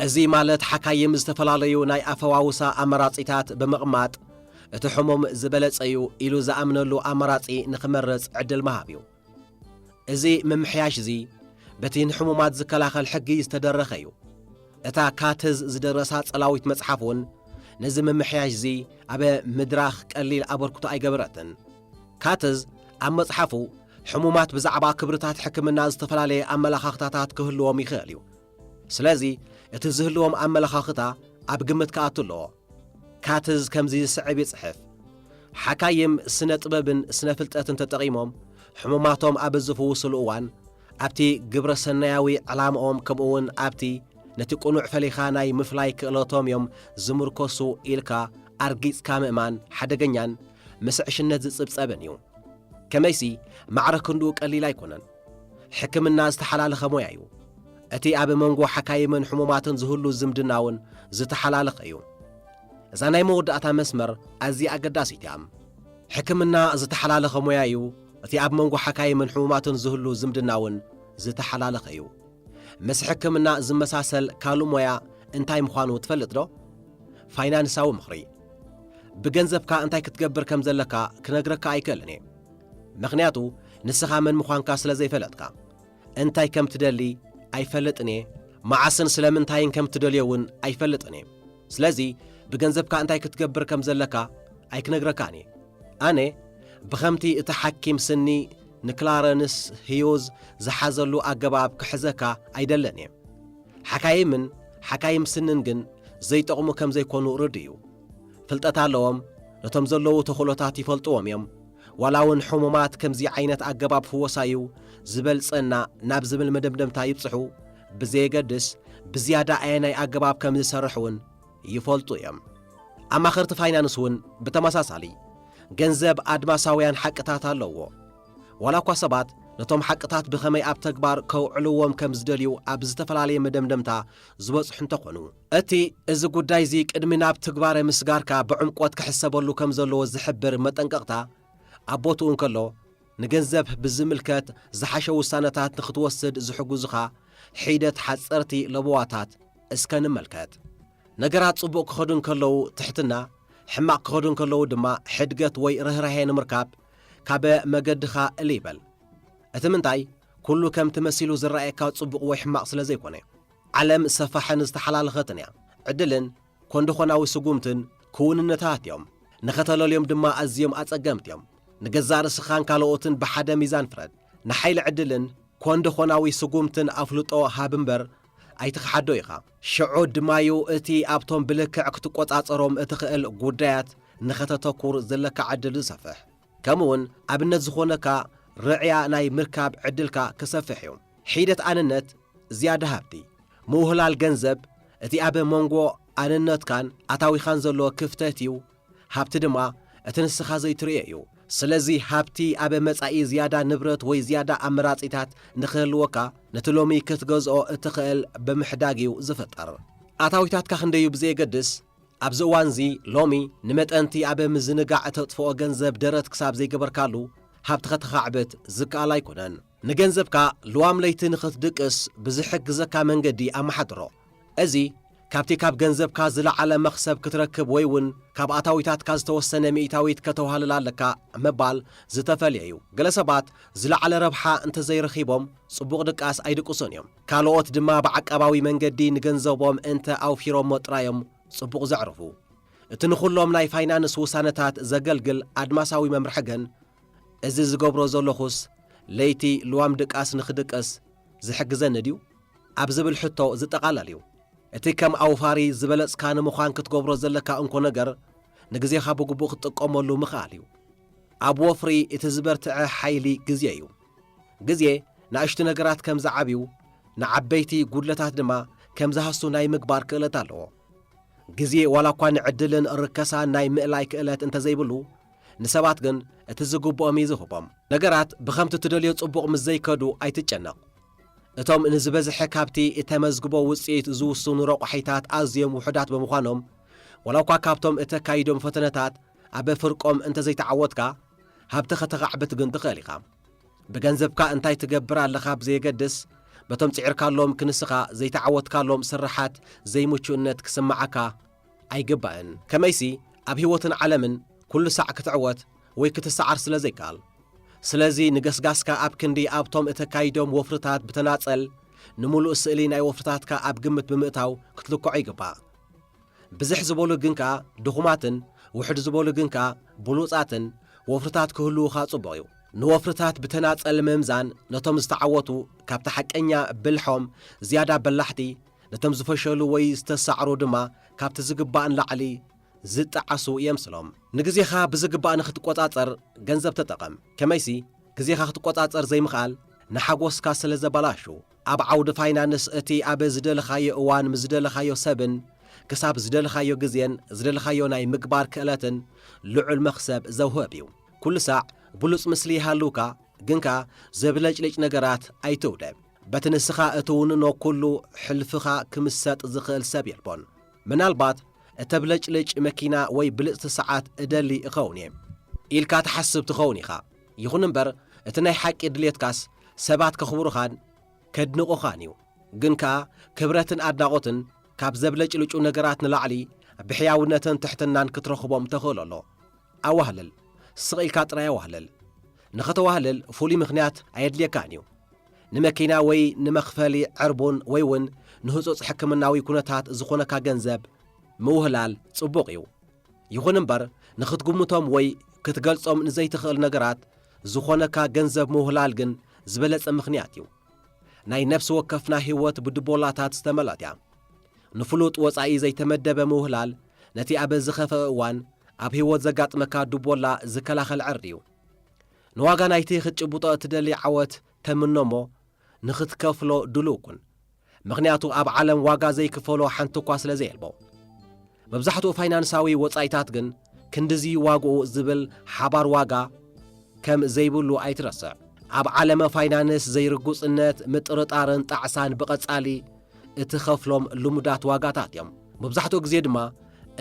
እዚ ማለት ሓካይም ዝተፈላለዩ ናይ ኣፈዋውሳ ኣመራጺታት ብምቕማጥ እቲ ሕሙም ዝበለጸ እዩ ኢሉ ዝኣምነሉ ኣማራጺ ንኽመርጽ ዕድል ምሃብ እዩ። እዚ ምምሕያሽ እዚ በቲ ንሕሙማት ዝከላኸል ሕጊ ዝተደረኸ እዩ። እታ ካትዝ ዝደረሳ ጸላዊት መጽሓፍ እውን ነዚ ምምሕያሽ እዚ ኣብ ምድራኽ ቀሊል ኣበርክቶ ኣይገበረትን። ካትዝ ኣብ መጽሓፉ ሕሙማት ብዛዕባ ክብርታት ሕክምና ዝተፈላለየ ኣመላኻኽታታት ክህልዎም ይኽእል እዩ። ስለዚ እቲ ዝህልዎም ኣመለኻኽታ ኣብ ግምት ክኣቱ ኣለዎ። ካትዝ ከምዚ ዝስዕብ ይጽሕፍ፣ ሓካይም ስነ ጥበብን ስነ ፍልጠትን ተጠቒሞም ሕሙማቶም ኣብ ዝፍውሱሉ እዋን ኣብቲ ግብረ ሰናያዊ ዕላምኦም ከምኡውን ኣብቲ ነቲ ቅኑዕ ፈሊኻ ናይ ምፍላይ ክእለቶም እዮም ዝምርኮሱ ኢልካ ኣርጊጽካ ምእማን ሓደገኛን ምስ ዕሽነት ዝጽብጸብን እዩ። ከመይሲ ማዕረ ክንድኡ ቀሊል ኣይኮነን። ሕክምና ዝተሓላለኸ ሞያ እዩ። እቲ ኣብ መንጎ ሓካይምን ሕሙማትን ዝህሉ ዝምድና እውን ዝተሓላለኸ እዩ። እዛ ናይ መወዳእታ መስመር ኣዝያ ኣገዳሲት እያ። ሕክምና ዝተሓላለኸ ሞያ እዩ። እቲ ኣብ መንጎ ሓካይምን ሕሙማትን ዝህሉ ዝምድና እውን ዝተሓላለኸ እዩ። ምስ ሕክምና ዝመሳሰል ካልእ ሞያ እንታይ ምዃኑ ትፈልጥ ዶ? ፋይናንሳዊ ምኽሪ። ብገንዘብካ እንታይ ክትገብር ከም ዘለካ ክነግረካ ኣይክእልን እየ። ምኽንያቱ ንስኻ መን ምዃንካ ስለ ዘይፈለጥካ። እንታይ ከም ትደሊ ኣይፈልጥን እየ፣ መዓስን ስለምንታይን ከም ትደልዮ እውን ኣይፈልጥን እየ። ስለዚ ብገንዘብካ እንታይ ክትገብር ከም ዘለካ ኣይክነግረካን እየ። ኣነ ብኸምቲ እቲ ሓኪም ስኒ ንክላረንስ ህዩዝ ዝሓዘሉ ኣገባብ ክሕዘካ ኣይደልን እየ። ሓካይምን ሓካይም ስንን ግን ዘይጠቕሙ ከም ዘይኮኑ ርዱእ እዩ። ፍልጠት ኣለዎም፣ ነቶም ዘለዉ ተኽእሎታት ይፈልጥዎም እዮም፣ ዋላ እውን ሕሙማት ከምዚ ዓይነት ኣገባብ ፍወሳ እዩ ዝበልጸና ናብ ዝብል መደምደምታ ይብጽሑ ብዘየገድስ፣ ብዝያዳ ኣየናይ ኣገባብ ከም ዝሰርሕ እውን ይፈልጡ እዮም። ኣማኸርቲ ፋይናንስ እውን ብተመሳሳሊ። ገንዘብ ኣድማሳውያን ሓቅታት ኣለዎ። ዋላ እኳ ሰባት ነቶም ሓቅታት ብኸመይ ኣብ ተግባር ከውዕልዎም ከም ዝደልዩ ኣብ ዝተፈላለየ መደምደምታ ዝበጽሑ እንተኾኑ፣ እቲ እዚ ጉዳይ እዚ ቅድሚ ናብ ትግባረ ምስጋርካ ብዕምቆት ክሕሰበሉ ከም ዘለዎ ዝሕብር መጠንቀቕታ ኣብ ቦትኡ እንከሎ፣ ንገንዘብ ብዝምልከት ዝሓሸ ውሳነታት ንኽትወስድ ዝሕግዙኻ ሒደት ሓጸርቲ ለበዋታት እስከ ንመልከት። ነገራት ጽቡቕ ክኸዱ እንከለዉ ትሕትና፣ ሕማቕ ክኸዱ እንከለዉ ድማ ሕድገት ወይ ርህራሄ ንምርካብ ካበ መገድኻ እልይ በል። እቲ ምንታይ፣ ኩሉ ከምቲ መሲሉ ዝረኣየካ ጽቡቕ ወይ ሕማቕ ስለ ዘይኮነ። ዓለም ሰፋሕን ዝተሓላለኸትን እያ። ዕድልን ኮንደኾናዊ ስጉምትን ክውንነታት እዮም። ንኸተለልዮም ድማ ኣዝዮም ኣጸገምቲ እዮም። ንገዛእ ርእስኻን ካልኦትን ብሓደ ሚዛን ፍረድ። ንሓይሊ ዕድልን ኮንደኾናዊ ስጉምትን ኣፍልጦ ሃብ እምበር ኣይትኽሓዶ ኢኻ። ሽዑ ድማ'ዩ እቲ ኣብቶም ብልክዕ ክትቆጻጸሮም እትኽእል ጉዳያት ንኸተተኩር ዘለካ ዕድል ዝሰፍሕ። ከምኡ'ውን ኣብነት ዝኾነካ ርዕያ ናይ ምርካብ ዕድልካ ክሰፍሕ እዩ። ሒደት ኣነነት ዝያዳ ሃብቲ፣ ምውህላል ገንዘብ፣ እቲ ኣብ መንጎ ኣነነትካን ኣታዊኻን ዘሎ ክፍተት እዩ፣ ሃብቲ ድማ እቲ ንስኻ ዘይትርእዮ እዩ። ስለዚ ሃብቲ ኣብ መጻኢ ዝያዳ ንብረት ወይ ዝያዳ ኣመራጺታት ንኽህልወካ ነቲ ሎሚ ክትገዝኦ እትኽእል ብምሕዳግ እዩ ዝፍጠር። ኣታዊታትካ ክንደይ እዩ ብዘየገድስ፣ ኣብዚ እዋንዚ ሎሚ ንመጠን'ቲ ኣብ ምዝንጋዕ እተጥፍኦ ገንዘብ ደረት ክሳብ ዘይገበርካሉ ሃብቲ ከተኻዕብት ዝከኣል ኣይኮነን። ንገንዘብካ ልዋም ለይቲ ንኽትድቅስ ብዚሕግዘካ መንገዲ ኣመሓድሮ። እዚ፣ ካብቲ ካብ ገንዘብካ ዝለዓለ መኽሰብ ክትረክብ ወይ እውን ካብ ኣታዊታትካ ዝተወሰነ ሚእታዊት ከተዋህልል ኣለካ ምባል ዝተፈልየ እዩ። ገለ ሰባት ዝለዓለ ረብሓ እንተ ዘይረኺቦም ጽቡቕ ድቃስ ኣይድቅሱን እዮም። ካልኦት ድማ ብዓቃባዊ መንገዲ ንገንዘቦም እንተ ኣውፊሮሞ ጥራይ እዮም ጽቡቕ ዘዕርፉ። እቲ ንዅሎም ናይ ፋይናንስ ውሳነታት ዘገልግል ኣድማሳዊ መምርሒ ግን እዚ ዝገብሮ ዘሎኹስ ለይቲ ልዋም ድቃስ ንኽድቅስ ዝሕግዘኒ ድዩ? ኣብ ዝብል ሕቶ ዝጠቓለል እዩ። እቲ ከም ኣውፋሪ ዝበለጽካ ንምዃን ክትገብሮ ዘለካ እንኮ ነገር ንግዜኻ ብግቡእ ክትጥቀመሉ ምኽኣል እዩ። ኣብ ወፍሪ እቲ ዝበርትዐ ሓይሊ ግዜ እዩ። ግዜ ናእሽቱ ነገራት ከም ዝዓብዩ ንዓበይቲ ጉድለታት ድማ ከም ዝሃሱ ናይ ምግባር ክእለት ኣለዎ። ግዜ ዋላ እኳ ንዕድልን ርከሳን ናይ ምእላይ ክእለት እንተዘይብሉ፣ ንሰባት ግን እቲ ዝግብኦም እዩ ዝህቦም። ነገራት ብኸምቲ ትደልዮ ጽቡቕ ምስ ዘይከዱ ኣይትጨነቕ። እቶም ንዝበዝሐ ካብቲ እተመዝግቦ ውጽኢት ዝውስኑ ረቋሒታት ኣዝዮም ውሑዳት ብምዃኖም፣ ዋላ'ኳ ካብቶም እተካይዶም ፈተነታት ኣብ ፍርቆም እንተ ዘይተዓወትካ፣ ሃብቲ ከተኻዕብት ግን ትኽእል ኢኻ። ብገንዘብካ እንታይ ትገብር ኣለኻ ብዘየገድስ፣ በቶም ጽዒርካሎም ክንስኻ ዘይተዓወትካሎም ስርሓት ዘይምቹእነት ክስምዓካ፣ ኣይግባእን። ከመይሲ ኣብ ህይወትን ዓለምን ኩሉ ሳዕ ክትዕወት ወይ ክትሰዓር ስለ ዘይከኣል። ስለዚ ንገስጋስካ ኣብ ክንዲ ኣብቶም እተካይዶም ወፍርታት ብተናጸል ንምሉእ ስእሊ ናይ ወፍርታትካ ኣብ ግምት ብምእታው ክትልክዖ ይግባእ። ብዝሕ ዝበሉ ግን ከኣ ድኹማትን ውሕድ ዝበሉ ግን ከኣ ብሉጻትን ወፍርታት ክህልዉኻ ጽቡቕ እዩ። ንወፍርታት ብተናጸል ምምዛን ነቶም ዝተዓወቱ ካብቲ ሓቀኛ ብልሖም ዝያዳ በላሕቲ ነቶም ዝፈሸሉ ወይ ዝተሳዕሩ ድማ ካብቲ ዝግባእ ንላዕሊ ዝጠዓሱ የምስሎም። ንግዜኻ ብዝግባእ ንኽትቈጻጸር ገንዘብ ተጠቐም። ከመይሲ፣ ግዜኻ ክትቈጻጸር ዘይምኽኣል ንሓጐስካ ስለ ዘበላሹ። ኣብ ዓውዲ ፋይናንስ፣ እቲ ኣብ ዝደለኻዮ እዋን ምስ ዝደለኻዮ ሰብን ክሳብ ዝደለኻዮ ግዜን ዝደለኻዮ ናይ ምግባር ክእለትን ልዑል መኽሰብ ዘውህብ እዩ። ኵሉ ሳዕ ብሉጽ ምስሊ ይሃልውካ፣ ግን ከኣ ዘብለጭልጭ ነገራት ኣይትውደብ። በቲ ንስኻ እትውንኖ ኩሉ ሕልፍኻ ክምሰጥ ዝኽእል ሰብ የልቦን። ምናልባት እተብለጭልጭ መኪና ወይ ብልጽቲ ሰዓት እደሊ እኸውን እየ ኢልካ ትሓስብ ትኸውን ኢኻ። ይኹን እምበር እቲ ናይ ሓቂ ድሌትካስ ሰባት ከኽብሩኻን ከድንቑኻን እዩ። ግን ከኣ ክብረትን ኣድናቖትን ካብ ዘብለጭልጩ ነገራት ንላዕሊ ብሕያውነትን ትሕትናን ክትረኽቦም ተኽእሎ ኣሎ። ኣዋህልል፣ ስቕ ኢልካ ጥራይ ኣዋህልል። ንኸተዋህልል ፍሉይ ምኽንያት ኣየድልየካን እዩ። ንመኪና ወይ ንመኽፈሊ ዕርቡን ወይ እውን ንህጹጽ ሕክምናዊ ኩነታት ዝኾነካ ገንዘብ ምውህላል ጽቡቕ እዩ። ይኹን እምበር ንኽትግምቶም ወይ ክትገልጾም ንዘይትኽእል ነገራት ዝኾነካ ገንዘብ ምውህላል ግን ዝበለጸ ምኽንያት እዩ። ናይ ነፍሲ ወከፍና ህይወት ብድቦላታት ዝተመልኣት እያ። ንፍሉጥ ወጻኢ ዘይተመደበ ምውህላል ነቲ ኣብ ዝኸፈእ እዋን ኣብ ህይወት ዘጋጥመካ ዱቦላ ዝከላኸል ዕርዲ እዩ። ንዋጋ ናይቲ ክትጭብጦ እትደሊ ዓወት ተምኖ እሞ ንኽትከፍሎ ድሉው ኩን። ምኽንያቱ ኣብ ዓለም ዋጋ ዘይክፈሎ ሓንቲ'ኳ ስለዘየልቦ። መብዛሕትኡ ፋይናንሳዊ ወጻኢታት ግን ክንድዚ ዋግኡ ዝብል ሓባር ዋጋ ከም ዘይብሉ ኣይትረስዕ። ኣብ ዓለመ ፋይናንስ ዘይርጉጽነት፣ ምጥርጣርን ጣዕሳን ብቐጻሊ እትኸፍሎም ልሙዳት ዋጋታት እዮም። መብዛሕትኡ ግዜ ድማ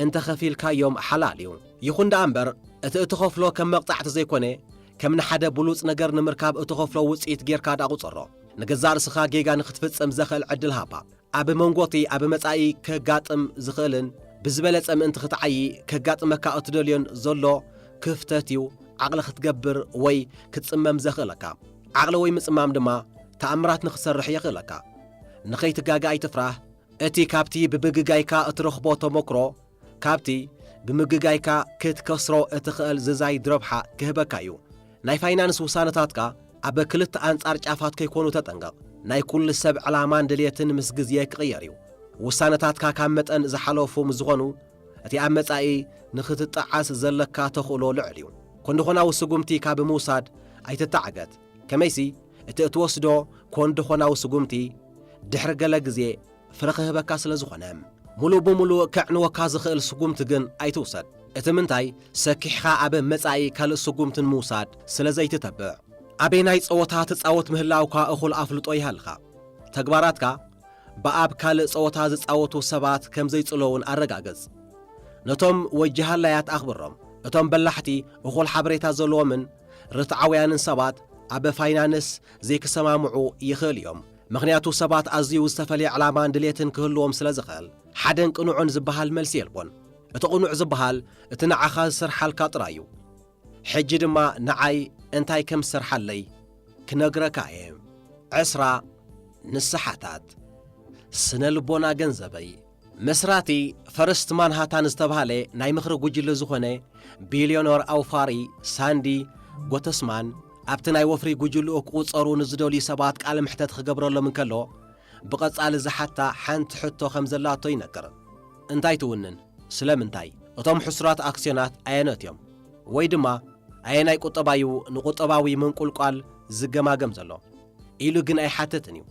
እንተ ኸፊልካዮም ሓላል እዩ። ይኹን ደኣ እምበር እቲ እትኸፍሎ ከም መቕጻዕቲ ዘይኮነ ከም ንሓደ ብሉጽ ነገር ንምርካብ እትኸፍሎ ውጽኢት ጌርካ ደኣ ቁጸሮ። ንገዛእ ርእስኻ ጌጋ ንኽትፍጽም ዘኽእል ዕድል ሃባ። ኣብ መንጎ'ቲ ኣብ መጻኢ ከጋጥም ዝኽእልን ብዝበለጸ ምእንቲ ክትዓዪ ከጋጥመካ እትደልዮን ዘሎ ክፍተት'ዩ ዓቕሊ ክትገብር ወይ ክትጽመም ዘኽእለካ። ዓቕሊ ወይ ምጽማም ድማ ተኣምራት ንኽትሰርሕ የኽእለካ። ንኸይትጋገ ኣይትፍራህ፣ እቲ ካብቲ ብብግጋይካ እትረኽቦ ተሞክሮ ካብቲ ብምግጋይካ ክትከስሮ እትኸእል ዝዛይድ ረብሓ ክህበካ እዩ። ናይ ፋይናንስ ውሳነታትካ ኣብ ክልተ ኣንጻር ጫፋት ከይኮኑ ተጠንቀቕ። ናይ ኩሉ ሰብ ዕላማን ድልየትን ምስ ግዜ ክቕየር እዩ። ውሳነታትካ ካብ መጠን ዝሓለፉ ምስ ዝኾኑ እቲ ኣብ መጻኢ ንክትጠዓስ ዘለካ ተኽእሎ ልዑል እዩ። ኮንዶኾናዊ ስጉምቲ ካብ ምውሳድ ኣይትተዓገት። ከመይሲ እቲ እትወስዶ ኮንዶኾናዊ ስጉምቲ ድሕሪ ገለ ግዜ፣ ፍረ ክህበካ ስለ ዝኾነ ሙሉእ ብሙሉእ ከዕንወካ ዝኽእል ስጉምቲ ግን ኣይትውሰድ። እቲ ምንታይ ሰኪሕኻ ኣብ መጻኢ ካልእ ስጉምቲ ንምውሳድ ስለ ዘይትተብዕ። ኣበየናይ ጸወታ ትጻወት ምህላውካ እኹል ኣፍልጦ ይሃልኻ። ተግባራትካ ብኣብ ካልእ ጸወታ ዝጻወቱ ሰባት ከም ዘይጽሎውን ኣረጋግጽ። ነቶም ወጂ ሃላያት ኣኽብሮም። እቶም በላሕቲ እኹል ሓበሬታ ዘለዎምን ርትዓውያንን ሰባት ኣብ ፋይናንስ ዘይክሰማምዑ ይኽእሉ እዮም። ምኽንያቱ ሰባት ኣዝዩ ዝተፈልየ ዕላማን ድሌትን ክህልዎም ስለ ዝኽእል። ሓደን ቅኑዕን ዝበሃል መልሲ የልቦን። እቲ ቅኑዕ ዝበሃል እቲ ንዓኻ ዝሰርሓልካ ጥራይ እዩ። ሕጂ ድማ ንዓይ እንታይ ከም ዝሰርሓለይ ክነግረካ እየ። ዕስራ ንስሓታት ስነ-ልቦና ገንዘበይ። መስራቲ ፈርስት ማንሃታን ዝተብሃለ ናይ ምኽሪ ጉጅለ ዝኾነ ቢልዮነር ኣውፋሪ ሳንዲ ጎተስማን ኣብቲ ናይ ወፍሪ ጉጅልኡ ክቑጸሩ ንዝደልዩ ሰባት ቃለ መሕተት ክገብረሎም እንከሎ ብቐጻሊ ዝሓታ ሓንቲ ሕቶ ከም ዘላቶ ይነግር። እንታይ ትውንን? ስለምንታይ? እቶም ሕሱራት ኣክስዮናት ኣየኖት እዮም? ወይ ድማ ኣየናይ ቁጠባ'ዩ ንቁጠባዊ ምንቁልቋል ዝገማገም ዘሎ? ኢሉ ግን ኣይሓትትን እዩ።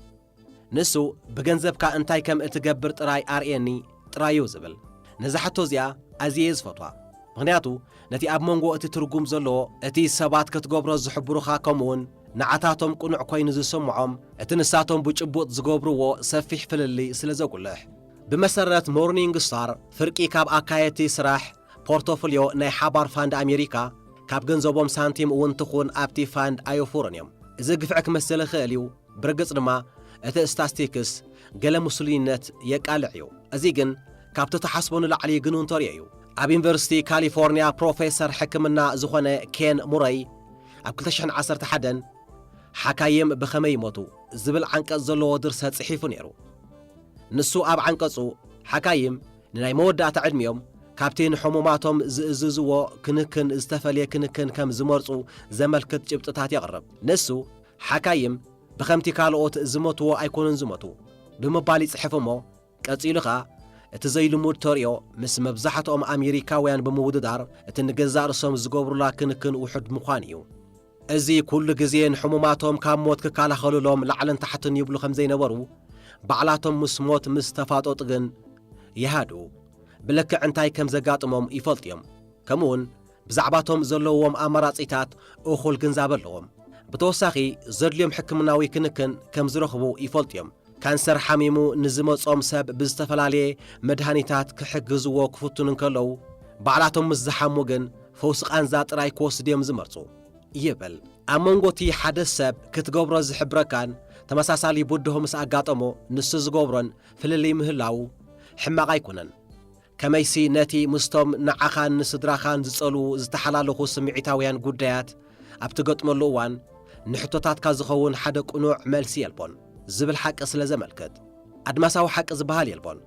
ንሱ ብገንዘብካ እንታይ ከም እትገብር ጥራይ ኣርእየኒ ጥራይ እዩ ዝብል። ነዛ ሕቶ እዚኣ ኣዝየ እየ ዝፈትዋ፣ ምኽንያቱ ነቲ ኣብ መንጎ እቲ ትርጉም ዘለዎ እቲ ሰባት ከትገብሮ ዝሕብሩኻ ከምኡውን ንዓታቶም ቅኑዕ ኮይኑ ዝስምዖም እቲ ንሳቶም ብጭቡጥ ዝገብርዎ ሰፊሕ ፍልልይ ስለ ዘጉልሕ። ብመሰረት ሞርኒንግ ስታር፣ ፍርቂ ካብ ኣካየድቲ ስራሕ ፖርቶፍልዮ ናይ ሓባር ፋንድ ኣሜሪካ ካብ ገንዘቦም ሳንቲም እውን ትኹን ኣብቲ ፋንድ ኣየውፍሩን እዮም። እዚ ግፍዒ ክመስል ይኽእል እዩ፣ ብርግጽ ድማ እቲ ስታስቲክስ ገለ ሙሱሉይነት የቃልዕ እዩ። እዚ ግን ካብቲ ትሓስቦ ንላዕሊ ግኑን ተርእዮ እዩ። ኣብ ዩኒቨርሲቲ ካሊፎርንያ ፕሮፌሰር ሕክምና ዝኾነ ኬን ሙረይ ኣብ ክልተ ሽሕን ዓሰርተ ሓደን ሓካይም ብኸመይ ይሞቱ? ዝብል ዓንቀጽ ዘለዎ ድርሰት ጽሒፉ ነይሩ። ንሱ ኣብ ዓንቀጹ ሓካይም ንናይ መወዳእታ ዕድሚኦም ካብቲ ንሕሙማቶም ዝእዝዝዎ ክንክን ዝተፈልየ ክንክን ከም ዝመርጹ ዘመልክት ጭብጥታት የቕርብ። ንሱ ሓካይም ብኸምቲ ካልኦት ዝሞትዎ ኣይኮኑን ዝሞቱ ብምባል ይጽሕፍ እሞ ቀጺሉ ከኣ እቲ ዘይልሙድ ተርእዮ ምስ መብዛሕትኦም ኣሜሪካውያን ብምውድዳር እቲ ንገዛእ ርእሶም ዝገብሩላ ክንክን ውሑድ ምዃኑ እዩ። እዚ ኩሉ ግዜ ንሕሙማቶም ካብ ሞት ክከላኸሉሎም ላዕልን ታሕትን ይብሉ ከም ዘይነበሩ ባዕላቶም ምስ ሞት ምስ ተፋጠጡ ግን ይሃድኡ ብልክዕ እንታይ ከም ዘጋጥሞም ይፈልጡ እዮም ከምኡውን ብዛዕባ'ቶም ዘለዉዎም ኣማራጺታት እኹል ግንዛበ ኣለዎም። ብተወሳኺ ዘድልዮም ሕክምናዊ ክንክን ከም ዝረኽቡ ይፈልጡ እዮም። ካንሰር ሓሚሙ ንዝመጾም ሰብ ብዝተፈላለየ መድሃኒታት ክሕግዝዎ ክፍትኑ እንከለዉ፣ ባዕላቶም ምስ ዝሓሙ ግን ፈውሲ ቃንዛ ጥራይ ክወስዱ እዮም ዝመርጹ ይብል። ኣብ መንጎ'ቲ ሓደ ሰብ ክትገብሮ ዝሕብረካን ተመሳሳሊ ብድሆ ምስ ኣጋጠሞ ንሱ ዝገብሮን ፍልልይ ምህላዉ ሕማቕ ኣይኮነን። ከመይሲ ነቲ ምስቶም ንዓኻን ንስድራኻን ዝጸልዉ ዝተሓላለኹ ስምዒታውያን ጕዳያት ኣብ ትገጥመሉ እዋን ንሕቶታትካ ዝኸውን ሓደ ቅኑዕ መልሲ የልቦን ዝብል ሓቂ ስለ ዘመልክት ኣድማሳዊ ሓቂ ዝበሃል የልቦን።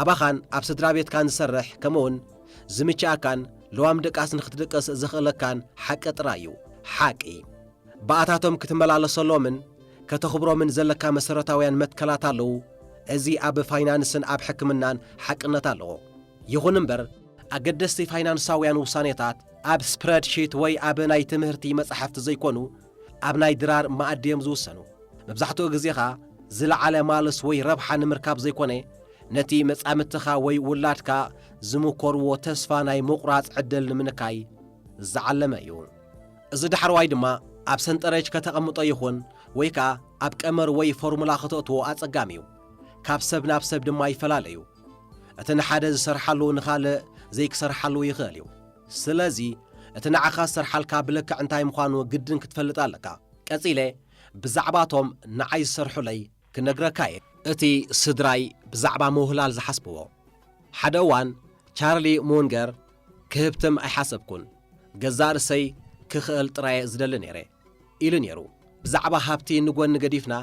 ኣባኻን ኣብ ስድራ ቤትካን ዝሰርሕ ከምኡውን ዝምችኣካን ለዋም ድቃስ ንኽትድቅስ ዘኽእለካን ሓቂ ጥራይ እዩ ሓቂ። ብኣታቶም ክትመላለሰሎምን ከተኽብሮምን ዘለካ መሰረታውያን መትከላት ኣለዉ፣ እዚ ኣብ ፋይናንስን ኣብ ሕክምናን ሓቅነት ኣለዎ። ይኹን እምበር፣ ኣገደስቲ ፋይናንሳውያን ውሳኔታት ኣብ ስፕረድሺት ወይ ኣብ ናይ ትምህርቲ መጻሕፍቲ ዘይኮኑ፣ ኣብ ናይ ድራር መኣዲ እዮም ዝውሰኑ። መብዛሕትኡ ግዜ ከኣ ዝለዓለ ማልስ ወይ ረብሓ ንምርካብ ዘይኮነ፣ ነቲ መጻምድትኻ ወይ ውላድካ ዝምኮርዎ ተስፋ ናይ ምቑራጽ ዕድል ንምንካይ ዝዓለመ እዩ። እዚ ዳሕረዋይ ድማ ኣብ ሰንጠረዥ ከተቐምጦ ይኹን ወይ ከኣ ኣብ ቀመር ወይ ፎርሙላ ከተእትዎ ኣጸጋሚ እዩ። ካብ ሰብ ናብ ሰብ ድማ ይፈላለ እዩ። እቲ ንሓደ ዝሰርሓሉ ንኻልእ ዘይክሰርሓሉ ይኽእል እዩ። ስለዚ እቲ ንዓኻ ዝሰርሓልካ ብልክዕ እንታይ ምዃኑ ግድን ክትፈልጥ ኣለካ። ቀጺለ ብዛዕባ እቶም ንዓይ ዝሰርሑለይ ክነግረካ እየ እቲ ስድራይ ብዛዕባ ምውህላል ዝሓስብዎ። ሓደ እዋን ቻርሊ ሙንገር ክህብትም ኣይሓሰብኩን፣ ገዛእ ርእሰይ ክኽእል ጥራይ እየ ዝደሊ ነይረ ኢሉ ነይሩ። ብዛዕባ ሃብቲ ንጎኒ ገዲፍና፣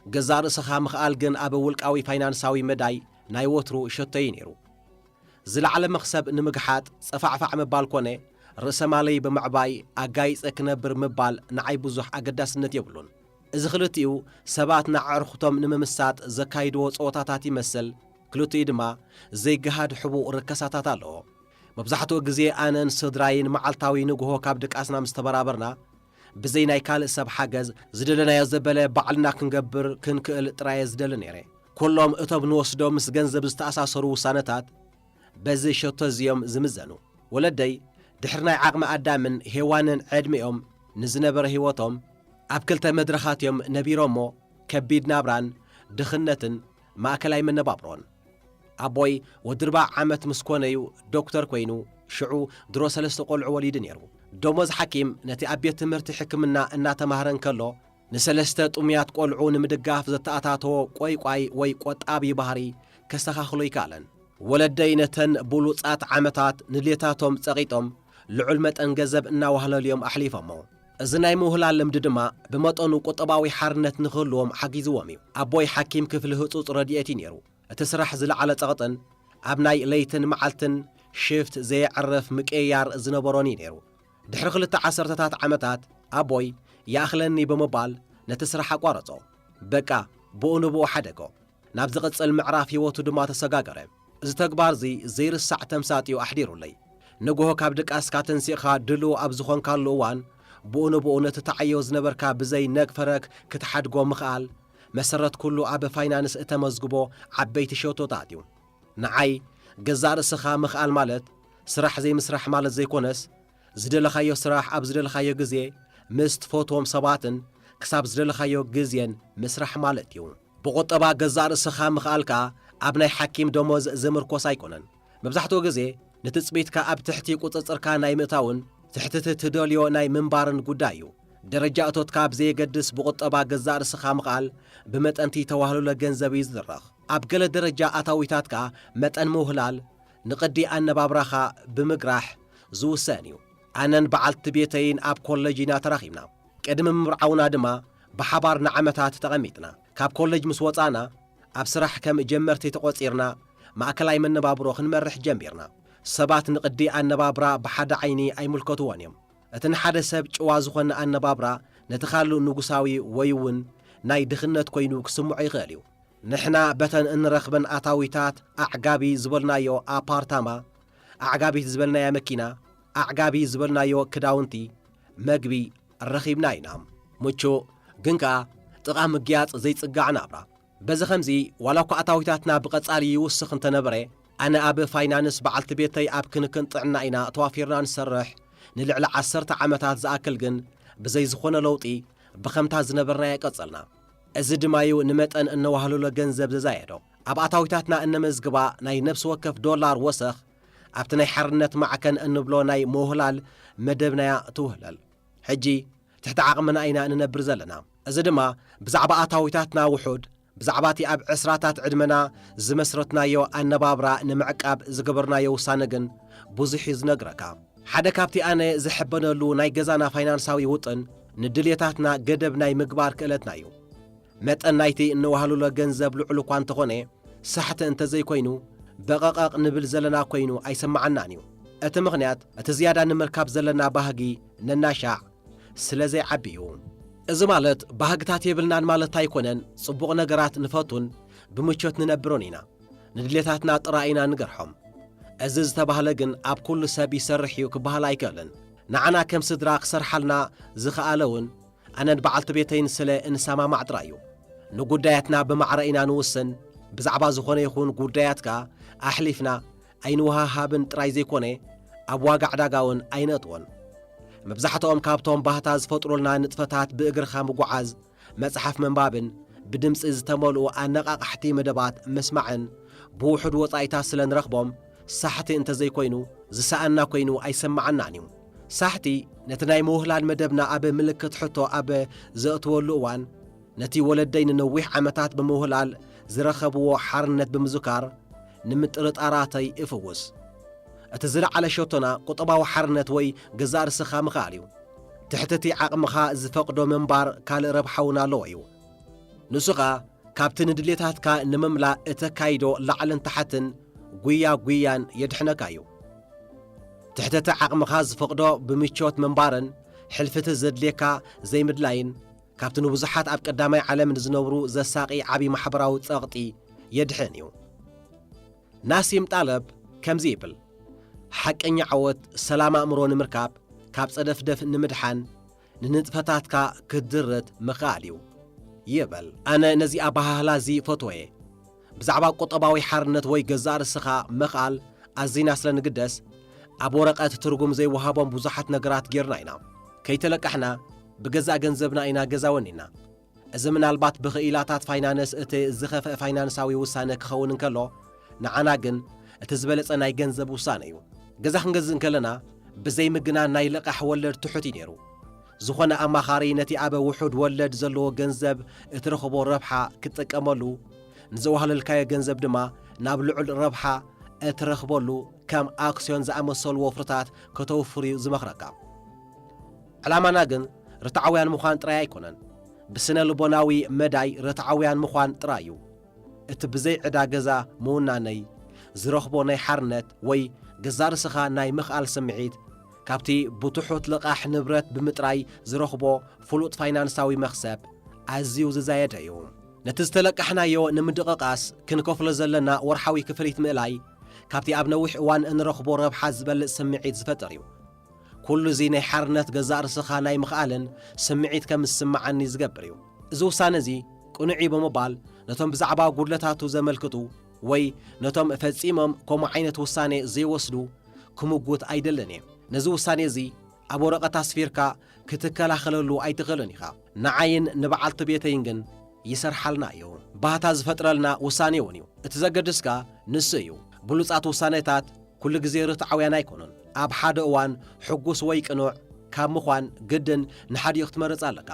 ገዛእ ርእስኻ ምኽኣል ግን ኣብ ውልቃዊ ፋይናንሳዊ መዳይ ናይ ወትሩ ሸቶይ'ዩ ነይሩ። ዝለዓለ መኽሰብ ንምግሓጥ ጸፋዕፋዕ ምባል ኮነ ርእሰ-ማለይ ብምዕባይ ኣጋይጸ ክነብር ምባል ንዓይ ብዙሕ ኣገዳስነት የብሉን። እዚ ክልቲኡ ሰባት ንኣዕርኹቶም ንምምሳጥ ዘካይድዎ ጸወታታት ይመስል፣ ክልቲኡ ድማ ዘይገሃድ ሕቡእ ርከሳታት ኣለዎ። መብዛሕትኡ ግዜ ኣነን ስድራይን መዓልታዊ ንግሆ ካብ ድቃስና ምስ ተበራበርና፣ ብዘይ ናይ ካልእ ሰብ ሓገዝ፣ ዝደለናዮ ዘበለ ባዕልና ክንገብር ክንክእል ጥራየ ዝደሊ ነይረ። ኩሎም እቶም ንወስዶም ምስ ገንዘብ ዝተኣሳሰሩ ውሳነታት፣ በዚ ሸቶ እዚ እዮም ዝምዘኑ። ወለደይ ድሕሪ ናይ ዓቕሚ ኣዳምን ሄዋንን ዕድሜኦም ንዝነበረ ህይወቶም ኣብ ክልተ መድረኻት እዮም ነቢሮሞ፣ ከቢድ ናብራን ድኽነትን ማእከላይ መነባብሮን። ኣቦይ ወዲ ርባዕ ዓመት ምስ ኮነ እዩ ዶክተር ኮይኑ ሽዑ ድሮ ሰለስተ ቆልዑ ወሊዱ ነይሩ። ደሞዝ ሓኪም ነቲ ኣብ ቤት ትምህርቲ ሕክምና እናተማህረ እንከሎ ንሰለስተ ጥሙያት ቆልዑ ንምድጋፍ ዘተኣታተዎ ቈይቋይ ወይ ቆጣቢ ባህሪ ከስተኻኽሎ ኣይከኣለን። ወለደይ ነተን ብሉጻት ዓመታት ንድሌታቶም ጸቒጦም ልዑል መጠን ገዘብ እናዋህለሉ'ዮም ኣሕሊፎሞ። እዚ ናይ ምውህላል ልምዲ ድማ ብመጠኑ ቁጠባዊ ሓርነት ንኽህልዎም ሓጊዝዎም'ዩ። ኣቦይ ሓኪም ክፍሊ ህጹጽ ረድኤት'ዩ ነይሩ። እቲ ስራሕ ዝለዓለ ጸቕጥን ኣብ ናይ ለይትን መዓልትን ሽፍት ዘየዕርፍ ምቅይያር ዝነበሮን'ዩ ነይሩ። ድሕሪ ክልተ ዓሰርተታት ዓመታት ኣቦይ ይኣኽለኒ ብምባል ነቲ ስራሕ ኣቋረጾ። በቃ ብኡ ንብኡ ሓደጎ። ናብ ዝቕጽል ምዕራፍ ህይወቱ ድማ ተሰጋገረ። እዚ ተግባር'ዚ ዘይርሳዕ ተምሳጥ'ዩ ኣሕዲሩለይ። ንግሆ ካብ ድቃስካ ተንሲእካ ድሉው ኣብ ዝኾንካሉ እዋን ብኡ ንብኡ ነቲ ትዓዮ ዝነበርካ ብዘይ ነግ ፈረግ ክትሓድጎ ምኽኣል መሰረት ኩሉ ኣብ ፋይናንስ እተመዝግቦ ዓበይቲ ሸቶታት'ዩ። ንዓይ ገዛእ ርእስኻ ምኽኣል ማለት ስራሕ ዘይምስራሕ ማለት ዘይኮነስ፣ ዝደለኻዮ ስራሕ ኣብ ዝደለኻዮ ግዜ ምስ ትፈትዎም ሰባትን ክሳብ ዝደለኻዮ ግዜን ምስራሕ ማለት እዩ። ብቑጠባ ገዛእ ርእስኻ ምኽኣል ከኣ ኣብ ናይ ሓኪም ደሞዝ ዝምርኮስ ኣይኮነን። መብዛሕትኡ ግዜ ንትጽቢትካ ኣብ ትሕቲ ቁጽጽርካ ናይ ምእታውን ትሕቲ'ቲ ትደልዮ ናይ ምንባርን ጉዳይ እዩ። ደረጃ እቶትካ ብዘየገድስ ብቑጠባ ገዛእ ርእስኻ ምኽኣል ብመጠን'ቲ ተዋህልሎ ገንዘብ እዩ ዝድረኽ። ኣብ ገለ ደረጃ ኣታዊታት ከኣ መጠን ምውህላል ንቅዲ ኣነባብራኻ ብምግራሕ ዝውሰን እዩ። ኣነን በዓልቲ ቤተይን ኣብ ኮለጅ ኢና ተራኺብና። ቅድሚ ምብርዓውና ድማ ብሓባር ንዓመታት ተቐሚጥና። ካብ ኮለጅ ምስ ወጻእና ኣብ ስራሕ ከም ጀመርቲ ተቖጺርና ማእከላይ መነባብሮ ክንመርሕ ጀሚርና። ሰባት ንቅዲ ኣነባብራ ብሓደ ዓይኒ ኣይምልከትዎን እዮም። እቲ ንሓደ ሰብ ጭዋ ዝኾነ ኣነባብራ ነቲ ካልእ ንጉሳዊ ወይ'ውን ናይ ድኽነት ኮይኑ ክስምዖ ይኽእል እዩ። ንሕና በተን እንረኽበን ኣታዊታት ኣዕጋቢ ዝበልናዮ ኣፓርታማ፣ ኣዕጋቢት ዝበልናያ መኪና፣ ኣዕጋቢ ዝበልናዮ ክዳውንቲ፣ መግቢ ረኺብና ኢና። ምቹእ ግን ከኣ ጥቓ ምግያጽ ዘይጽጋዕ ናብራ። በዚ ኸምዚ ዋላኳ ኣታዊታትና ብቐጻሊ ይውስኽ እንተነበረ፣ ኣነ ኣብ ፋይናንስ በዓልቲ ቤተይ ኣብ ክንክን ጥዕና ኢና ተዋፊርና ንሰርሕ፣ ንልዕሊ ዓሰርተ ዓመታት ዝኣክል ግን ብዘይ ዝኾነ ለውጢ ብኸምታ ዝነበርናዮ ቀጸልና። እዚ ድማ'ዩ ንመጠን እነዋህልሎ ገንዘብ ዘዛየዶ። ኣብ ኣታዊታትና እነመዝግባ ናይ ነብሲ ወከፍ ዶላር ወሰኽ፣ ኣብቲ ናይ ሓርነት ማዕከን እንብሎ ናይ ምውህላል መደብና'ያ ትውህለል። ሕጂ ትሕቲ ዓቕምና ኢና እንነብር ዘለና። እዚ ድማ ብዛዕባ ኣታዊታትና ውሑድ፣ ብዛዕባ'ቲ ኣብ ዕስራታት ዕድመና ዝመስረትናዮ ኣነባብራ ንምዕቃብ ዝገበርናዮ ውሳነ ግን ብዙሕ'ዩ ዝነግረካ። ሓደ ካብቲ ኣነ ዝሕበነሉ ናይ ገዛና ፋይናንሳዊ ውጥን ንድልየታትና ገደብ ናይ ምግባር ክእለትና እዩ። መጠን ናይቲ እንወሃሉሎ ገንዘብ ልዑል እኳ እንተኾነ ሳሕቲ እንተዘይኮይኑ በቐቐቕ ንብል ዘለና ኮይኑ ኣይሰማዓናን እዩ። እቲ ምኽንያት እቲ ዝያዳ ንምርካብ ዘለና ባህጊ ነናሻዕ ስለዘይዓቢ እዩ። እዚ ማለት ባህግታት የብልናን ማለት ኣይኮነን፣ ጽቡቕ ነገራት ንፈቱን ብምቾት ንነብርን ኢና። ንድሌታትና ጥራይ ኢና ንገርሖም። እዚ ዝተባህለ ግን ኣብ ኩሉ ሰብ ይሰርሕ እዩ ክበሃል ኣይክእልን። ንዓና ከም ስድራ ክሰርሓልና ዝኸኣለ እውን ኣነን በዓልቲ ቤተይን ስለ እንሰማማዕ ጥራይ እዩ። ንጉዳያትና ብማዕረ ኢና ንውስን፣ ብዛዕባ ዝኾነ ይኹን ጉዳያት ከኣ ኣሕሊፍና ኣይንወሃሃብን ጥራይ ዘይኮነ ኣብ ዋጋ ዕዳጋ እውን ኣይነእትዎን። መብዛሕትኦም ካብቶም ባህታ ዝፈጥሩልና ንጥፈታት ብእግርኻ ምጉዓዝ፣ መጽሓፍ ምንባብን ብድምጺ ዝተመልኡ ኣነቓቓሕቲ መደባት ምስማዕን ብውሑድ ወጻኢታት ስለ ንረኽቦም ሳሕቲ እንተ ዘይኮይኑ ዝሰኣንና ኮይኑ ኣይሰመዓናን እዩ። ሳሕቲ ነቲ ናይ ምውህላል መደብና ኣብ ምልክት ሕቶ ኣብ ዘእትወሉ እዋን ነቲ ወለደይ ንነዊሕ ዓመታት ብምውህላል ዝረኸብዎ ሓርነት ብምዝካር ንምጥርጣራተይ እፍውስ። እቲ ዝለዓለ ሸቶና ቁጠባዊ ሓርነት ወይ ገዛእ ርስኻ ምኽኣል እዩ። ትሕቲ'ቲ ዓቕምኻ ዝፈቕዶ ምንባር ካልእ ረብሓ'ውን ኣለዎ እዩ። ንሱ ኸኣ ካብቲ ንድሌታትካ ንምምላእ እተካይዶ ላዕልን ታሕትን ጉያ ጉያን የድሕነካ እዩ። ትሕቲ'ቲ ዓቕምኻ ዝፈቕዶ ብምቾት ምንባርን ሕልፊ'ቲ ዘድልየካ ዘይምድላይን ካብቲ ንብዙሓት ኣብ ቀዳማይ ዓለም ንዝነብሩ ዘሳቒ ዓቢ ማሕበራዊ ጸቕጢ የድሕን እዩ። ናሲም ጣለብ ከምዚ ይብል፣ ሓቀኛ ዓወት ሰላም ኣእምሮ ንምርካብ ካብ ጸደፍደፍ ንምድሓን ንንጥፈታትካ ክትድርት ምኽኣል እዩ ይብል። ኣነ ነዚ ኣበሃህላ እዚ እፈትዎ'የ። ብዛዕባ ቁጠባዊ ሓርነት ወይ ገዛእ ርእስኻ ምኽኣል ኣዚና ስለ ንግደስ፣ ኣብ ወረቐት ትርጉም ዘይወሃቦም ብዙሓት ነገራት ጌርና ኢና። ከይተለቃሕና ብገዛእ ገንዘብና ኢና ገዛ ወኒንና። እዚ ምናልባት ብኽኢላታት ፋይናንስ እቲ ዝኸፍአ ፋይናንሳዊ ውሳነ ክኸውን እንከሎ፣ ንዓና ግን እቲ ዝበለጸ ናይ ገንዘብ ውሳነ እዩ። ገዛ ክንገዝእ እንከለና ብዘይ ምግናን ናይ ልቓሕ ወለድ ትሑት እዩ ነይሩ። ዝኾነ ኣማኻሪ ነቲ ኣብ ውሑድ ወለድ ዘለዎ ገንዘብ እትረኽቦ ረብሓ ክትጥቀመሉ፣ ንዘዋህለልካዮ ገንዘብ ድማ ናብ ልዑል ረብሓ እትረኽበሉ ከም ኣክስዮን ዝኣመሰሉ ወፍርታት ከተውፍር'ዩ ዝመኽረካ። ዕላማና ግን ርትዓውያን ምዃን ጥራይ ኣይኮነን፣ ብስነ ልቦናዊ መዳይ ርትዓውያን ምዃን ጥራይ እዩ። እቲ ብዘይ ዕዳ ገዛ ምውናነይ ዝረኽቦ ናይ ሓርነት ወይ ገዛእ ርእስኻ ናይ ምኽኣል ስምዒት፣ ካብቲ ብትሑት ልቓሕ ንብረት ብምጥራይ ዝረኽቦ ፍሉጥ ፋይናንሳዊ መኽሰብ ኣዝዩ ዝዛየደ እዩ። ነቲ ዝተለቃሕናዮ ንምድቕቓስ ክንከፍሎ ዘለና ወርሓዊ ክፍሊት ምእላይ፣ ካብቲ ኣብ ነዊሕ እዋን እንረኽቦ ረብሓ ዝበልጽ ስምዒት ዝፈጥር እዩ። ኩሉ እዚ ናይ ሓርነት ገዛእ ርስኻ ናይ ምኽኣልን ስምዒት ከም ዝስምዓኒ ዝገብር እዩ። እዚ ውሳነ እዚ ቅኑዕ እዩ ብምባል ነቶም ብዛዕባ ጉድለታቱ ዘመልክቱ ወይ ነቶም ፈጺሞም ከምኡ ዓይነት ውሳኔ ዘይወስዱ ክምጉት ኣይደልን እየ። ነዚ ውሳኔ እዚ ኣብ ወረቐት ኣስፊርካ ክትከላኸለሉ ኣይትኽእልን ኢኻ። ንዓይን ንበዓልቲ ቤተይን ግን ይሰርሓልና እዩ። ባህታ ዝፈጥረልና ውሳኔ እውን እዩ። እቲ ዘገድስካ ንሱ እዩ። ብሉጻት ውሳኔታት ኩሉ ግዜ ርትዓውያን ኣይኮኑን። ኣብ ሓደ እዋን ሕጉስ ወይ ቅኑዕ ካብ ምዃን ግድን ንሓዲኡ ክትመርጽ ኣለካ።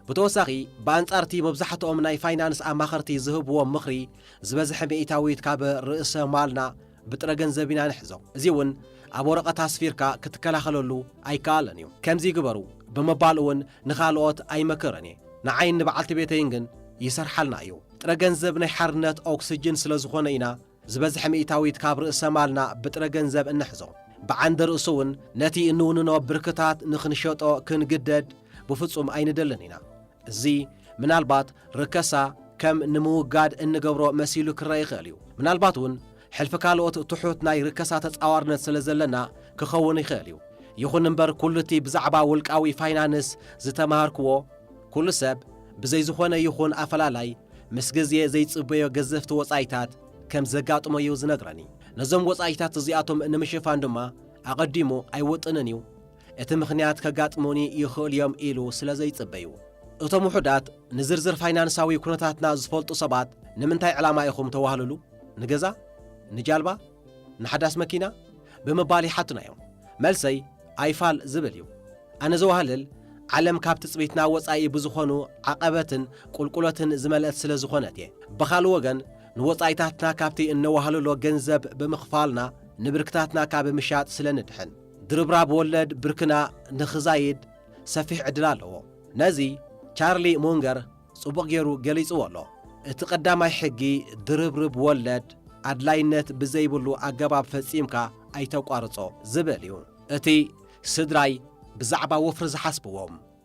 ብተወሳኺ፣ ብኣንጻር'ቲ መብዛሕትኦም ናይ ፋይናንስ ኣማኸርቲ ዝህብዎ ምኽሪ፣ ዝበዝሐ ሚኢታዊት ካብ ርእሰ ማልና ብጥረ ገንዘብ ኢና ንሕዞ። እዚ'ውን ኣብ ወረቐት ኣስፊርካ ክትከላኸለሉ ኣይከኣልን እዩ። ከምዚ ግበሩ ብምባል እውን ንኻልኦት ኣይመክርን እየ። ንዓይን ንበዓልቲ ቤተይን ግን ይሰርሓልና እዩ። ጥረ ገንዘብ ናይ ሓርነት ኦክስጅን ስለዝኾነ ኢና ዝበዝሐ ሚእታዊት ካብ ርእሰ ማልና ብጥረ ገንዘብ እንሕዞ ብዓንደ ርእሱውን ነቲ እንውንኖ ብርክታት ንኽንሸጦ ክንግደድ ብፍጹም ኣይንደልን ኢና። እዚ ምናልባት ርከሳ ከም ንምውጋድ እንገብሮ መሲሉ ክረኣ ይኽእል እዩ። ምናልባትውን ሕልፊ ካልኦት ትሑት ናይ ርከሳ ተጻዋርነት ስለ ዘለና ክኸውን ይኽእል እዩ። ይኹን እምበር ኩሉቲ ብዛዕባ ውልቃዊ ፋይናንስ ዝተማሃርክዎ ኩሉ ሰብ ብዘይ ዝኾነ ይኹን ኣፈላላይ ምስ ግዜ ዘይጽበዮ ገዘፍቲ ወጻኢታት ከም ዘጋጥሞ'ዩ ዝነግረኒ። ነዞም ወጻኢታት እዚኣቶም ንምሽፋን ድማ ኣቐዲሙ ኣይውጥንን'ዩ፣ እቲ ምኽንያት ከጋጥሙኒ ይኽእሉ'ዮም ኢሉ ስለ ዘይጽበ'ዩ። እቶም ውሑዳት ንዝርዝር ፋይናንሳዊ ኩነታትና ዝፈልጡ ሰባት ንምንታይ ዕላማ ኢኹም ተዋህልሉ? ንገዛ? ንጃልባ? ንሓዳስ መኪና ብምባል ይሓቱናዮም። መልሰይ ኣይፋል ዝብል እዩ። ኣነ ዘዋህልል ዓለም ካብ ትጽቢትና ወጻኢ ብዝኾኑ ዓቐበትን ቁልቁለትን ዝመልእት ስለ ዝኾነት እየ። ብኻልእ ወገን ንወጻኢታትና ካብቲ እነዋህልሎ ገንዘብ ብምኽፋልና ንብርክታትና ካብ ምሻጥ ስለ ንድሕን። ድርብራብ ወለድ ብርክና ንኽዛይድ ሰፊሕ ዕድል ኣለዎ። ነዚ ቻርሊ ሙንገር ጽቡቕ ገይሩ ገሊጽዎ ኣሎ። እቲ ቀዳማይ ሕጊ ድርብርብ ወለድ ኣድላይነት ብዘይብሉ ኣገባብ ፈጺምካ ኣይተቋርጾ ዝብል እዩ። እቲ ስድራይ ብዛዕባ ወፍሪ ዝሓስብዎ።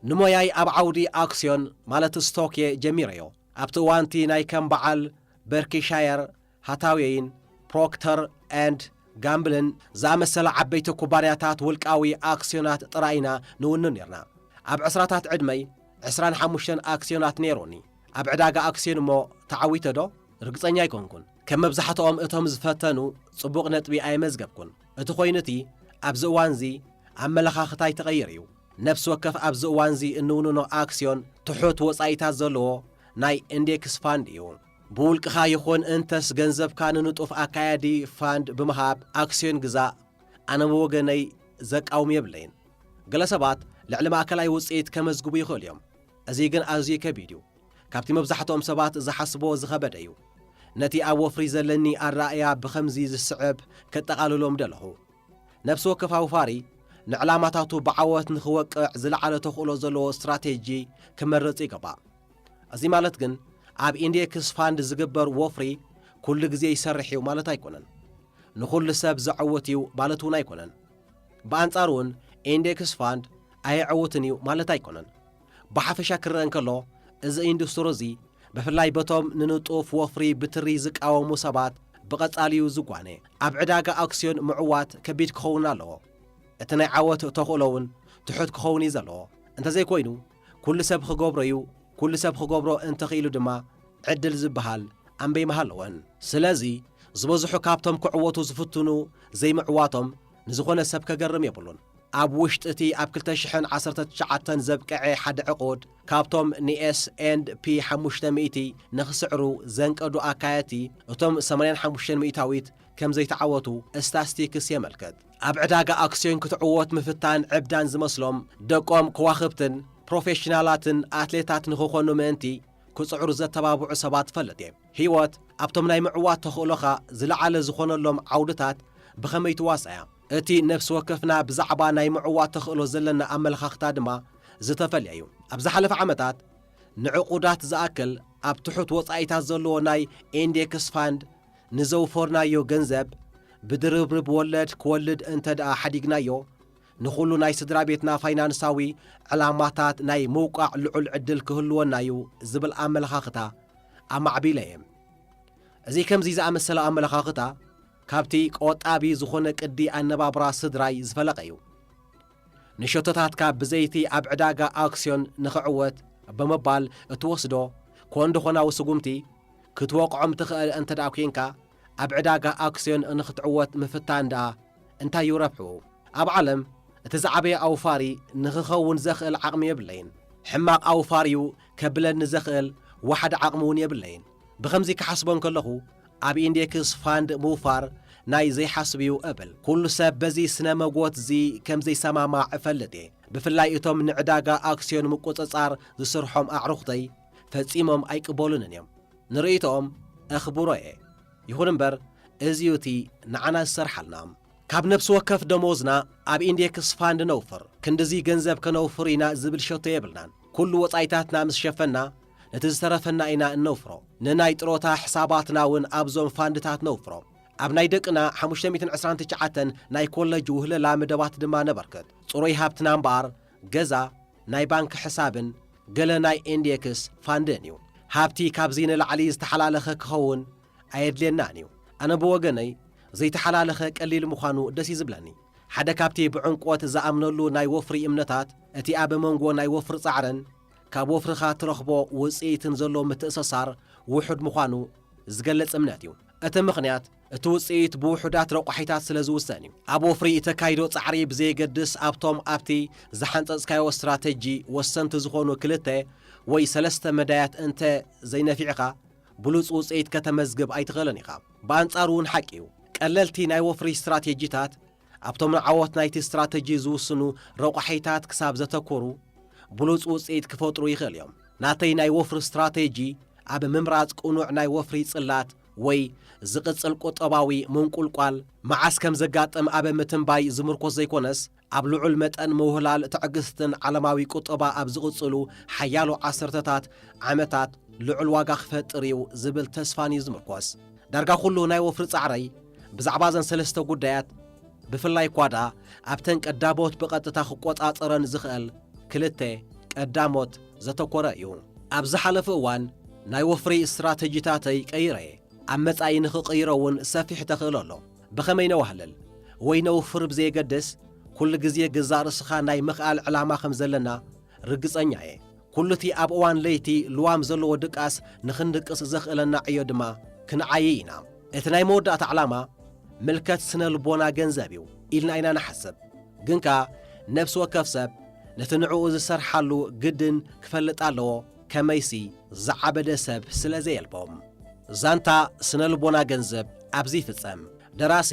ንሞያይ ኣብ ዓውዲ ኣክስዮን ማለት ስቶክ'የ ጀሚረዮ። ኣብቲ እዋን'ቲ ናይ ከም በዓል በርኪሻየር፣ ሃታዌይን ፕሮክተር ኤንድ ጋምብልን ዝኣመሰላ ዓበይቲ ኩባንያታት ውልቃዊ ኣክስዮናት ጥራይ ኢና ንውንን ኔርና። ኣብ ዕስራታት ዕድመይ ዕስራን ሓሙሽተን ኣክስዮናት ነይሩኒ። ኣብ ዕዳጋ ኣክስዮን እሞ ተዓዊተ'ዶ? ርግጸኛ ኣይኮንኩን። ከም መብዛሕትኦም እቶም ዝፈተኑ ጽቡቕ ነጥቢ ኣየመዝገብኩን። እቲ ኮይኑ'ቲ ኣብዚ እዋን'ዚ ኣመለኻኽታይ ተቐይሩ'ዩ። ነፍሲ ወከፍ ኣብዚ እዋን'ዚ እንውንኖ ኣክስዮን ትሑት ወጻኢታት ዘለዎ ናይ ኢንዴክስ ፋንድ እዩ። ብውልቅኻ ይኹን እንተስ ገንዘብካ ንንጡፍ ኣካያዲ ፋንድ ብምሃብ ኣክስዮን ግዛእ፣ ኣነ ብወገነይ ዘቃውም የብለይን። ገለ ሰባት ልዕሊ ማእከላይ ውጽኢት ከመዝግቡ ይኽእሉ እዮም፣ እዚ ግን ኣዝዩ ከቢድ እዩ፣ ካብቲ መብዛሕትኦም ሰባት ዝሓስብዎ ዝኸበደ እዩ። ነቲ ኣብ ወፍሪ ዘለኒ ኣረኣእያ ብኸምዚ ዝስዕብ ከጠቓልሎ ምደለኹ። ነፍሲ ወከፍ ኣውፋሪ ንዕላማታቱ ብዓወት ንኽወቅዕ ዝለዓለ ተኽእሎ ዘለዎ ስትራቴጂ ክመርጽ ይግባእ። እዚ ማለት ግን ኣብ ኢንዴክስ ፋንድ ዝግበር ወፍሪ ኩሉ ግዜ ይሰርሕ እዩ ማለት ኣይኮነን። ንኹሉ ሰብ ዘዐውት እዩ ማለት እውን ኣይኮነን። ብኣንጻሩ እውን ኢንዴክስ ፋንድ ኣየዐውትን እዩ ማለት ኣይኮነን። ብሓፈሻ ክረኣ እንከሎ እዚ ኢንዱስትሪ እዚ ብፍላይ በቶም ንንጡፍ ወፍሪ ብትሪ ዝቃወሙ ሰባት ብቐጻሊ እዩ ዝጓነ። ኣብ ዕዳጋ ኣክስዮን ምዕዋት ከቢድ ክኸውን ኣለዎ። እቲ ናይ ዓወት ተኽእሎ እውን ትሑት ክኸውን እዩ ዘለዎ። እንተዘይኮይኑ ኩሉ ሰብ ኽገብሮ'ዩ፣ ኩሉ ሰብ ኽገብሮ እንተኽኢሉ ድማ ዕድል ዝብሃል ኣምበይ ምሃለወን። ስለዚ ዝበዝሑ ካብቶም ክዕወቱ ዝፍትኑ ዘይምዕዋቶም ንዝኾነ ሰብ ከገርም የብሉን። ኣብ ውሽጢ'ቲ ኣብ ክልተ ሽሕን ዓሰርተ ትሽዓተን ዘብቀዔ ሓደ ዕቑድ ካብቶም ን ኤስ ኤንድ ፒ ሓሙሽተ ሚእቲ ንኽስዕሩ ዘንቀዱ ኣካየድቲ እቶም ሰማንያን ሓሙሽተን ሚእታዊት ከምዘይተዓወቱ እስታስቲክስ የመልክት። ኣብ ዕዳጋ ኣክስዮን ክትዕወት ምፍታን ዕብዳን ዝመስሎም ደቆም ከዋኽብትን ፕሮፌሽናላትን ኣትሌታት ንኽኾኑ ምእንቲ ክጽዕሩ ዘተባብዑ ሰባት እፈልጥ'የ። ህይወት ኣብቶም ናይ ምዕዋት ተኽእሎኻ ዝለዓለ ዝኾነሎም ዓውድታት ብኸመይ ትዋሳእ'ያ? እቲ ነፍሲ ወከፍና ብዛዕባ ናይ ምዕዋት ተኽእሎ ዘለና ኣመለኻኽታ ድማ ዝተፈልየ'ዩ። ኣብ ዝሓለፈ ዓመታት ንዕቑዳት ዝኣክል ኣብ ትሑት ወጻኢታት ዘለዎ ናይ ኢንዴክስ ፋንድ፣ ንዘውፈርናዮ ገንዘብ ብድርብርብ ወለድ ክወልድ እንተድኣ ሓዲግናዮ፣ ንኹሉ ናይ ስድራቤትና ፋይናንሳዊ ዕላማታት ናይ ምውቃዕ ልዑል ዕድል ክህልወና'ዩ ዝብል ኣመለኻኽታ ኣማዕቢለ'የ። እዚ ከምዚ ዝኣመሰለ ኣመለኻኽታ፣ ካብቲ ቆጣቢ ዝኾነ ቅዲ ኣነባብራ ስድራይ ዝፈለቐ'ዩ። ንሸቶታትካ ብዘይቲ ኣብ ዕዳጋ ኣክስዮን ንኽዕወት ብምባል እትወስዶ ኮንዶኾናዊ ስጉምቲ ክትወቕዖም ትኽእል እንተድኣ ኲይንካ፣ ኣብ ዕዳጋ ኣክስዮን ንኽትዕወት ምፍታን ድኣ እንታይ እዩ ረብሕኡ? ኣብ ዓለም እቲ ዝዓበየ ኣውፋሪ ንኽኸውን ዘኽእል ዓቕሚ የብለይን። ሕማቕ ኣውፋሪ'ዩ ከብለኒ ዘኽእል ዋሕዲ ዓቕሚ'ውን የብለይን። ብኸምዚ ክሓስቦ እንከለኹ ኣብ ኢንዴክስ ፋንድ ምውፋር ናይ ዘይሓስብ እዩ እብል። ኩሉ ሰብ በዚ ስነ መጎት'ዚ ከም ዘይሰማማዕ እፈልጥ እየ። ብፍላይ እቶም ንዕዳጋ ኣክስዮን ምቁጽጻር ዝስርሖም ኣዕሩኽተይ ፈጺሞም ኣይቅበሉንን እዮም። ንርእይቶኦም እኽብሮ እየ። ይኹን እምበር እዚ'ዩ እቲ ንዓና ዝሰርሓልና። ካብ ነብሲ ወከፍ ደሞዝና ኣብ ኢንዴክስ ፋንድ ነውፍር። ክንድዚ ገንዘብ ከነውፍር ኢና ዝብል ሸቶ የብልናን። ኩሉ ወጻኢታትና ምስ ሸፈንና፣ ነቲ ዝተረፈና ኢና እነውፍሮ። ንናይ ጥሮታ ሕሳባትና እውን ኣብዞም ፋንድታት ነውፍሮ። ኣብ ናይ ደቅና ሓሙሽተ ሚእትን ዕስራን ትሽዓተን ናይ ኮለጅ ውህለላ መደባት ድማ ነበርክት። ጽሩይ ሃብትና እምበኣር ገዛ፣ ናይ ባንክ ሕሳብን ገለ ናይ ኤንዴክስ ፋንድን እዩ። ሃብቲ ካብዚ ንላዕሊ ዝተሓላለኸ ክኸውን ኣየድልየናን እዩ። ኣነ ብወገነይ ዘይተሓላለኸ ቀሊል ምዃኑ ደስ እዩ ዝብለኒ። ሓደ ካብቲ ብዕምቆት ዝኣምነሉ ናይ ወፍሪ እምነታት እቲ ኣብ መንጎ ናይ ወፍሪ ጻዕርን፣ ካብ ወፍርኻ ትረኽቦ ውጽኢትን ዘሎ ምትእሰሳር ውሑድ ምዃኑ ዝገልጽ እምነት እዩ። እቲ ምኽንያት እቲ ውጽኢት ብውሑዳት ረቋሒታት ስለ ዝውሰን እዩ። ኣብ ወፍሪ እተካይዶ ጻዕሪ ብዘየገድስ ኣብቶም ኣብቲ ዝሓንጸጽካዮ ስትራተጂ ወሰንቲ ዝኾኑ ክልተ ወይ ሰለስተ መዳያት እንተ ዘይነፊዕካ ብሉጽ ውጽኢት ከተመዝግብ ኣይትኽእልን ኢኻ። ብኣንጻሩ እውን ሓቂ እዩ፣ ቀለልቲ ናይ ወፍሪ ስትራቴጂታት፣ ኣብቶም ንዓወት ናይቲ ስትራተጂ ዝውስኑ ረቋሒታት ክሳብ ዘተኮሩ ብሉጽ ውጽኢት ክፈጥሩ ይኽእል እዮም። ናተይ ናይ ወፍሪ ስትራተጂ ኣብ ምምራጽ ቅኑዕ ናይ ወፍሪ ጽላት ወይ ዝቕጽል ቁጠባዊ ምንቁልቋል መዓስ ከም ዘጋጥም ኣብ ምትንባይ ዝምርኮስ ዘይኮነስ፣ ኣብ ልዑል መጠን ምውህላል ትዕግስትን ዓለማዊ ቁጠባ ኣብ ዝቕጽሉ ሓያሎ ዓሰርተታት ዓመታት ልዑል ዋጋ ክፈጥር እዩ ዝብል ተስፋን እዩ ዝምርኮስ። ዳርጋ ኩሉ ናይ ወፍሪ ጻዕረይ ብዛዕባ እዘን ሰለስተ ጉዳያት ብፍላይ እኳ ደኣ ኣብተን ቀዳሞት ብቐጥታ ክቆጻጸረን ዝኽእል ክልተ ቀዳሞት ዘተኮረ እዩ። ኣብ ዝሓለፉ እዋን ናይ ወፍሪ ስትራተጂታተይ ቀይረ እየ። ኣብ መጻኢ ንኽቕይሮ እውን ሰፊሕ ተኽእሎ ኣሎ። ብኸመይ ነዋህልል ወይ ነውፍር ብዘየገድስ፣ ኩሉ ግዜ ገዛእ ርእስኻ ናይ ምኽኣል ዕላማ ከም ዘለና ርግጸኛ እየ ኩሉቲ ኣብ እዋን ለይቲ ልዋም ዘለዎ ድቃስ ንኽንድቅስ ዘኽእለና ዕዮ ድማ ክንዓይይ ኢና። እቲ ናይ መወዳእታ ዕላማ ምልከት ስነ ልቦና ገንዘብ እዩ ኢልና ኢና ንሓስብ። ግን ከኣ ነፍሲ ወከፍ ሰብ ነቲ ንዕኡ ዝሰርሓሉ ግድን ክፈልጥ ኣለዎ ከመይሲ ዝዓበደ ሰብ ስለ ዘየልቦ። ዛንታ ስነ ልቦና ገንዘብ ኣብዚ ይፍጸም። ደራሲ